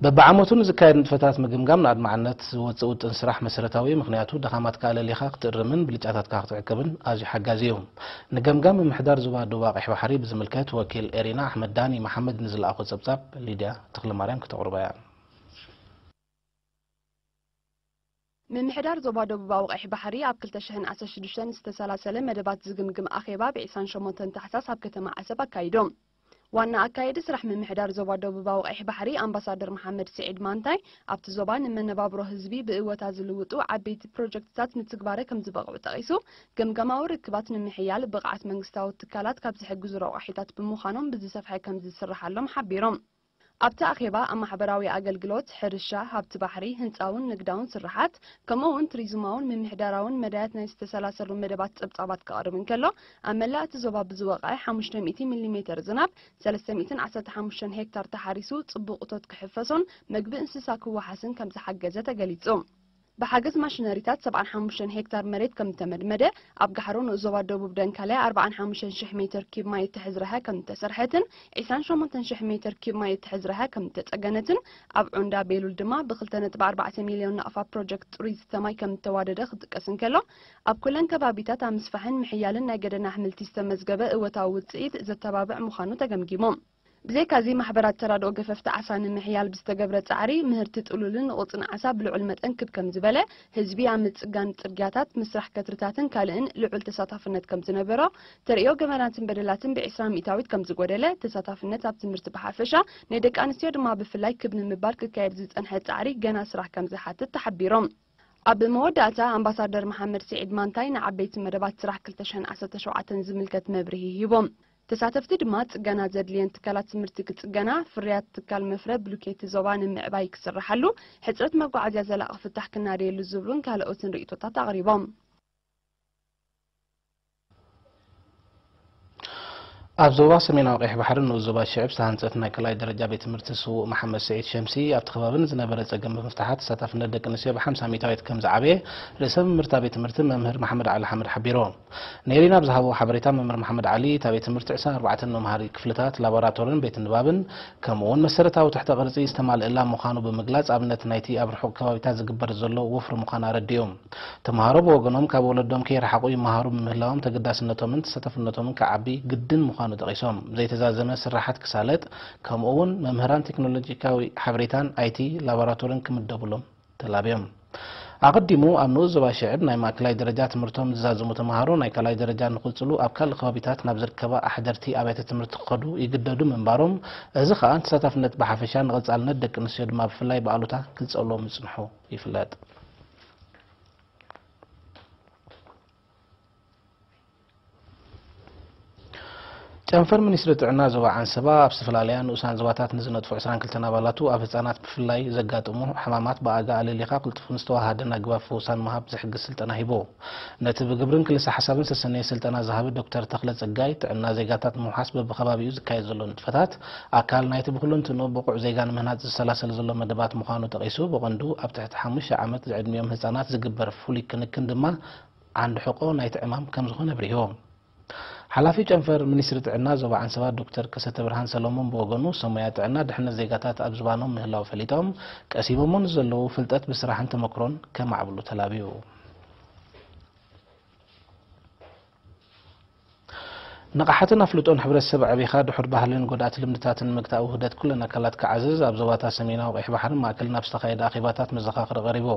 በብዓመቱ ንዝካየድ ንጥፈታት ምግምጋም ንኣድማዕነት ዝወጽእ ውጥን ስራሕ መሰረታዊ እዩ፣ ምኽንያቱ ድኻማትካ ኣለሊኻ ክትእርምን ብልጫታትካ ክትዕቅብን ኣዝዩ ሓጋዚ እዩ። ንገምጋም ምምሕዳር ዞባ ዶባ ቀይሕ ባሕሪ ብዝምልከት ወኪል ኤሪና ኣሕመድ ዳኒ መሓመድ ንዝለኣኾ ጸብጻብ ሊድያ ተኽለማርያም ክተቕርቦ እያ። ምምሕዳር ዞባ ደቡባዊ ቀይሕ ባሕሪ ኣብ ክልተ ሽሕን ዓሰርተ ሽዱሽተን ዝተሰላሰለ መደባት ዝግምግም ኣኼባ ብ ዕስራን ሸሞንተን ታሕሳስ ኣብ ከተማ ዓሰብ ኣካይዱ። ዋና ኣካየዲ ስራሕ ምምሕዳር ዞባ ደቡባዊ ቀይሕ ባሕሪ ኣምባሳደር መሓመድ ስዒድ ማንታይ ኣብቲ ዞባ ንመነባብሮ ህዝቢ ብእወታ ዝልውጡ ዓበይቲ ፕሮጀክትታት ንትግባረ ከምዝበቕዑ ጠቒሱ ገምጋማዊ ርክባት ንምሕያል ብቕዓት መንግስታዊ ትካላት ካብ ዝሕግዙ ረቋሒታት ብምዃኖም ብዝሰፍሐ ከምዝስርሓሎም ሓቢሩ። ኣብቲ ኣኼባ ኣብ ማሕበራዊ ኣገልግሎት፣ ሕርሻ፣ ሃብቲ ባሕሪ፣ ህንጻውን ንግዳውን ስርሓት፣ ከምኡ'ውን ቱሪዝማውን ምምሕዳራውን መዳያት ናይ ዝተሰላሰሉ መደባት ጸብጻባት ከቕርብ እንከሎ፣ ኣብ መላእ እቲ ዞባ ብዝወቕዐ ሓሙሽተ ሚእቲ ሚሊ ሜተር ዝናብ ሰለስተ ሚእትን ዓሰርተ ሓሙሽተን ሄክታር ተሓሪሱ ጽቡቕ እቶት ክሕፈሶን መግቢ እንስሳ ክወሓስን ከምዝሓገዘ ተገሊጹ። ብሓገዝ ማሽነሪታት ሰብዓን ሓሙሽተን ሄክታር መሬት ከም ዝተመድመደ፣ ኣብ ጋሕሮ ንኡስ ዞባ ደቡብ ደንካልያ ኣርብዓን ሓሙሽተን ሽሕ ሜተር ኪዩብ ማይ እትሕዝ ረሀ ከም እተሰርሐትን ዒስራን ሸሞንተን ሽሕ ሜተር ኪዩብ ማይ እትሕዝ ረሀ ከም እተጸገነትን ኣብ ዑንዳ ቤሉል ድማ ብክልተ ነጥቢ ኣርባዕተ ሚልዮን ናቕፋ ፕሮጀክት ጽሩይ ዝስተ ማይ ከም እተዋደደ ክጥቀስ እንከሎ ኣብ ኩለን ከባቢታት ኣብ ምስፋሕን ምሕያልን ናይ ገደና ኣሕምልቲ ዝተመዝገበ እወታዊ ውጽኢት ዘተባብዕ ምዃኑ ተገምጊሞም። ብዘይካ'ዚ ማሕበራት ተራድኦ ገፈፍቲ ዓሳ ንምሕያል ብዝተገብረ ጻዕሪ ምህርቲ ጥሉልን ቑጽን ዓሳ ብልዑል መጠን ክብ ከምዝበለ፣ ህዝቢ ኣብ ምጽጋን ጽርግያታት፣ ምስራሕ ከትርታትን ካልእን ልዑል ተሳታፍነት ከምዝነበሮ፣ ተርእዮ ገበናትን በደላትን ብዒስራ ሚእታዊት ከምዝጎደለ፣ ተሳታፍነት ኣብ ትምህርቲ ብሓፈሻ ናይ ደቂ ኣንስትዮ ድማ ብፍላይ ክብ ንምባል ክካየድ ዝጸንሐ ጻዕሪ ገና ስራሕ ከምዝሓትት ተሓቢሮም። ኣብ መወዳእታ ኣምባሳደር መሓመድ ስዒድ ማንታይ ንዓበይቲ መደባት ስራሕ ክልተ ሽሕን ዓሰርተ ሸውዓተን ዝምልከት መብርሂ ሂቦም። ተሳተፍቲ ድማ ፅገና ዘድልየን ትካላት ትምህርቲ ክፅገና፣ ፍርያት ትካል መፍረ ብሉኬቲ ዞባ ንምዕባይ ክስራሓሉ፣ ሕፅረት መጓዓዝያ ዘላቒ ፍታሕ ክናደየሉ ዝብሉን ካልኦትን ርኢቶታት ኣቕሪቦም። ኣብ ዞባ ሰሜናዊ ቀይሕ ባሕሪ ንኡስ ዞባ ሽዕብ ዝተሃንፀት ናይ ካልኣይ ደረጃ ቤት ትምህርቲ ስዉእ መሓመድ ስዒድ ሸምሲ ኣብቲ ከባቢ ንዝነበረ ፀገም ብምፍታሓ ተሳታፍነት ደቂ ኣንስትዮ ብ50 ሚታዊት ከም ዝዓበየ ርእሰ መምህርታ ቤት ትምህርቲ መምህር መሓመድ ዓሊ ሓምድ ሓቢሩ። ንኤሪና ኣብ ዝሃብዎ ሓበሬታ መምህር መሓመድ ዓሊ እታ ቤት ትምህርቲ ዕስራን ኣርባዕተን መምሃሪ ክፍልታት፣ ላቦራቶርን ቤት ንባብን ከምኡ'ውን መሰረታዊ ትሕተ ቅርጺ ዝተማልእላ ምዃኑ ብምግላጽ ኣብነት ናይቲ ኣብ ርሑቕ ከባቢታት ዝግበር ዘሎ ወፍሪ ምዃና ኣረዲኡ። ተመሃሮ ብወገኖም ካብ ወለዶም ከይረሓቑ ይመሃሩ ብምህላዎም ተገዳስነቶምን ተሳታፍነቶምን ክዓቢ ግድን ምዃኑ ጠቒሶም ዘይተዛዘመ ስርሓት ክሳለጥ ከምኡ'ውን መምህራን ቴክኖሎጂካዊ ሓበሬታን፣ ኣይቲ፣ ላቦራቶርን ክምደቡሎም ተላብዮም። ኣቐዲሙ ኣብ ንኡስ ዞባ ሽዕብ ናይ ማእከላይ ደረጃ ትምህርቶም ዝዛዝሙ ተመሃሮ ናይ ካልኣይ ደረጃ ንክቕጽሉ ኣብ ካልእ ከባቢታት ናብ ዝርከባ ኣሕደርቲ ኣብያተ ትምህርቲ ክኸዱ ይግደዱ ምንባሮም እዚ ከኣ ንተሳታፍነት ብሓፈሻ ንቐጻልነት ደቂ ኣንስትዮ ድማ ብፍላይ ብኣሉታ ክጸልዎ ምጽንሑ ይፍለጥ። ጨንፈር ሚኒስትሪ ጥዕና ዞባ ዓንሰባ ኣብ ዝተፈላለያ ንኡሳን ዞባታት ንዝነጥፉ 22 ኣባላቱ ኣብ ህፃናት ብፍላይ ዘጋጥሙ ሕማማት ብኣጋ ኣለሊኻ ቅልጡፍን ዝተዋሃሃደን ኣግባብ ፈውሳን ምሃብ ዝሕግዝ ስልጠና ሂቡ። ነቲ ብግብርን ክልሰ ሓሳብን ዝተሰነየ ስልጠና ዝሃበ ዶክተር ተኽለ ፀጋይ ጥዕና ዜጋታት ንምውሓስ በብከባቢኡ ዝካየድ ዘሎ ንጥፈታት ኣካል ናይቲ ብኩለንትንኡ ብቑዕ ዜጋ ንምህናፅ ዝሰላሰል ዘሎ መደባት ምዃኑ ጠቒሱ ብቐንዱ ኣብ ትሕቲ ሓሙሽተ ዓመት ዝዕድሚኦም ህፃናት ዝግበር ፍሉይ ክንክን ድማ ዓንዲ ሕቆ ናይቲ ዕማም ከምዝኾነ ኣብሪሆም። ሓላፊ ጨንፈር ሚኒስትሪ ጥዕና ዞባ ዓንሰባ ዶክተር ከሰተብርሃን ሰሎሞን ብወገኑ ሰብ ሞያ ጥዕና ድሕነት ዜጋታት ኣብ ዝባኖም ምህላው ፈሊጦም ቀሲሞሞ ንዘለዉ ፍልጠት ብስራሕን ተመክሮን ከማዕብሉ ተላብዩ። ንቕሓትን ኣፍልጦን ሕብረተሰብ ኣዕቢኻ ድሑር ባህልን ጎዳእቲ ልምድታትን ንምግታእ ውህደት ኩለን ኣካላት ክዓዝዝ ኣብ ዞባታት ሰሜናዊ ቀይሕ ባሕርን ማእከልን ኣብ ዝተኻየደ ኣኼባታት መዘኻኽሪ ቀሪቡ።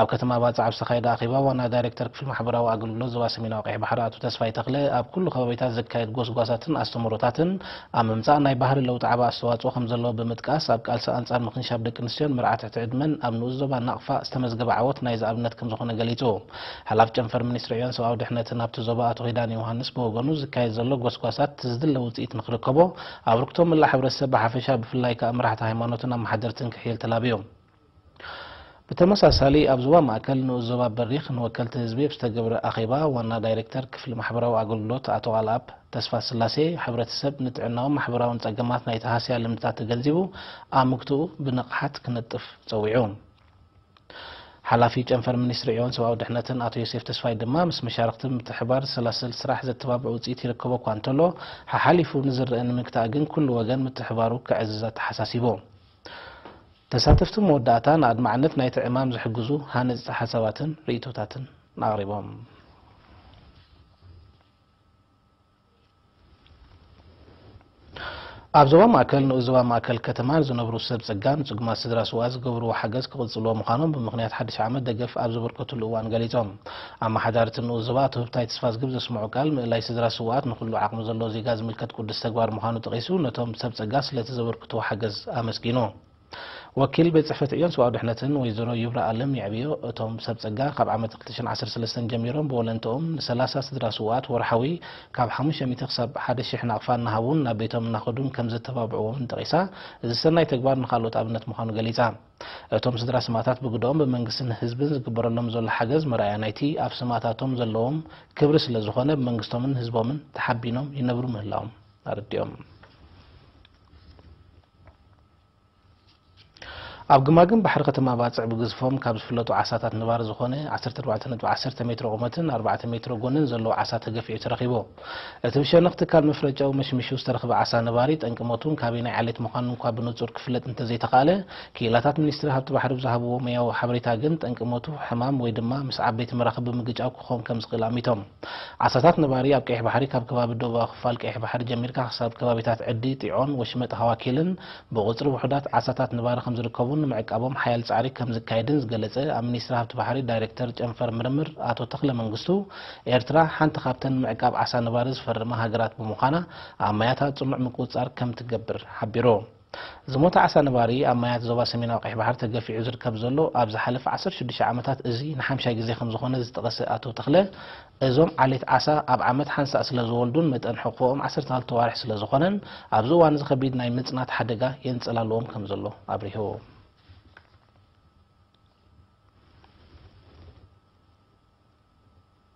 ኣብ ከተማ ባጽዕ ኣብ ዝተኻየደ ኣኼባ ዋና ዳይሬክተር ክፍሊ ማሕበራዊ ኣገልግሎት ዞባ ሰሜናዊ ቀይሕ ባሕሪ ኣቶ ተስፋይ ተኽለ ኣብ ኩሉ ከባቢታት ዝካየድ ጎስጓሳትን ኣስተምህሮታትን ኣብ ምምጻእ ናይ ባህሪ ለውጢ ዓቢ ኣስተዋጽኦ ከምዘለዎ ብምጥቃስ ኣብ ቃልሲ ኣንጻር ምኽንሻብ ደቂ ኣንስትዮን መርዓ ትሕቲ ዕድመን ኣብ ንኡስ ዞባ ናቕፋ ዝተመዝገበ ዓወት ናይዚ ኣብነት ከምዝኾነ ገሊጹ። ሓላፊ ጨንፈር ሚኒስትሪ ዕዮን ሰብኣዊ ድሕነትን ኣብቲ ዞባ ኣቶ ኪዳነ ዮውሃንስ ብወገኑ ዝካየድ ዘሎ ጎስጓሳት ዝድለ ውፅኢት ንክርከቦ ኣብርክቶ ምላእ ሕብረተሰብ ብሓፈሻ ብፍላይ ከኣ መራሕቲ ሃይማኖትን ኣመሓደርትን ክሕይል ተላብዩ። ብተመሳሳሊ ኣብ ዞባ ማእከል ንኡስ ዞባ በሪኽ ንወከልቲ ህዝቢ ኣብ ዝተገብረ ኣኼባ ዋና ዳይሬክተር ክፍሊ ማሕበራዊ ኣገልግሎት ኣቶ ቃልኣብ ተስፋስላሴ ሕብረተሰብ ንጥዕናውን ማሕበራውን ጸገማት ናይቲ ሃስያ ልምድታት ተገንዚቡ ኣምክቶኡ ብንቕሓት ክነጥፍ ጸዊዑ። ሓላፊ ጨንፈር ሚኒስትሪ ዒዮን ሰብኣዊ ድሕነትን ኣቶ ዮሴፍ ተስፋይ ድማ ምስ መሻርኽቲ ብምትሕብባር ዝሰላሰል ስራሕ ዘተባብዕ ውፅኢት ይርከቦ እኳ እንተሎ ሓሓሊፉ ንዝረኣ ንምግታእ ግን ኩሉ ወገን ምትሕብባሩ ከዕዝዝ ኣተሓሳሲቡ። ተሳተፍቲ መወዳእታ ንኣድማዕነት ናይቲ ዕማም ዝሕግዙ ሃነፅቲ ሓሳባትን ርኢቶታትን ኣቕሪቦም። ኣብ ዞባ ማእከል ንኡስ ዞባ ማእከል ከተማ ዝነብሩ ሰብ ጸጋ ንጽጉማት ስድራ ስውኣት ዝገብርዎ ሓገዝ ክቕጽልዎ ምዃኖም ብምኽንያት ሓድሽ ዓመት ደገፍ ኣብ ዘበርከትሉ እዋን ገሊጾም። ኣመሓዳሪ እቲ ንኡስ ዞባ ኣቶ ህብታይ ተስፋዝግብ ዘስምዖ ቃል ምእላይ ስድራ ስውኣት ንኹሉ ዓቕሚ ዘለዎ ዜጋ ዝምልከት ቅዱስ ተግባር ምዃኑ ጠቒሱ ነቶም ሰብ ጸጋ ስለቲ ዘበርክትዎ ሓገዝ ኣመስጊኑ። ወኪል ቤት ፅሕፈት ዕዮን ሰብኣዊ ድሕነትን ወይዘሮ ይብራ ኣለም የዕብዮ እቶም ሰብ ፀጋ ካብ ዓመት ክልተ ሽሕን ዓሰርተ ሰለስተን ጀሚሮም ብወለንትኦም ንሰላሳ ስድራ ስውኣት ወርሓዊ ካብ ሓሙሽተ ሚእቲ ክሳብ ሓደ ሽሕ ናቕፋ እናሃቡን ናብ ቤቶም እናኸዱን ከምዘተባብዕዎምን ጠቒሳ እዚ ሰናይ ተግባር ንኻልኦት ኣብነት ምዃኑ ገሊፃ። እቶም ስድራ ስማእታት ብግደኦም ብመንግስትን ህዝብን ዝግበረሎም ዘሎ ሓገዝ መርኣያ ናይቲ ኣብ ስማእታቶም ዘለዎም ክብሪ ስለዝኾነ ብመንግስቶምን ህዝቦምን ተሓቢኖም ይነብሩ ምህላዎም ኣረዲኦም። ኣብ ግማግም ባሕሪ ከተማ ባጽዕ ብግዝፎም ካብ ዝፍለጡ ዓሳታት ንባር ዝኾነ 14.10 ሜትሮ ቁመትን 4 ሜትሮ ጎንን ዘለዎ ዓሳ ተገፊዑ ተረኺቡ። እቲ ብሸነኽ ትካል መፍረ ጨው መሽሚሹ ዝተረኽበ ዓሳ ነባሪ ጠንቂ ሞቱን ካበየናይ ዓሌት ምዃኑን እኳ ብንጹር ክፍለጥ እንተዘይተኻእለ፣ ክኢላታት ሚኒስትሪ ሃብቲ ባሕሪ ብዝሃብዎ ሞያዊ ሓበሬታ ግን ጠንቂ ሞቱ ሕማም ወይ ድማ ምስ ዓበይቲ መራኽብ ብምግጫው ክኸውን ከምዝኽእል ኣሚቶም። ዓሳታት ነባሪ ኣብ ቀይሕ ባሕሪ ካብ ከባቢ ደቡባዊ ክፋል ቀይሕ ባሕሪ ጀሚርካ ክሳብ ከባቢታት ዕዲ፣ ጢዖን ወሽመጥ ሃዋኪልን ብቑጽሪ ውሑዳት ዓሳታት ነባሪ ከምዝርከቡን ንምዕቃቦም ሓያል ጻዕሪ ከምዝካየድን ዝገለጸ ኣብ ሚኒስትሪ ሃብቲ ባሕሪ ዳይሬክተር ጨንፈር ምርምር ኣቶ ተኽለ መንግስቱ ኤርትራ ሓንቲ ካብተን ንምዕቃብ ዓሳ ነባሪ ዝፈረማ ሃገራት ብምዃና ኣብ ማያታ ጽኑዕ ምቁጽጻር ከምትገብር ሓቢሩ። ዝሞተ ዓሳ ነባሪ ኣብ ማያት ዞባ ሰሜናዊ ቀይሕ ባሕሪ ተገፊዑ ዝርከብ ዘሎ ኣብ ዝሓለፈ ዓሰርተ ሽዱሽተ ዓመታት እዚ ንሓምሻይ ግዜ ከምዝኾነ ዝጠቐሰ ኣቶ ተኽለ፣ እዞም ዓሌት ዓሳ ኣብ ዓመት ሓንሳእ ስለዝወልዱን መጠን ሕቑፎኦም ዓሰርተ ክልተ ኣዋርሕ ስለዝኾነን ኣብዚ እዋን እዚ ከቢድ ናይ ምፅናት ሓደጋ የንፀላልዎም ከምዘሎ ኣብሪሁ።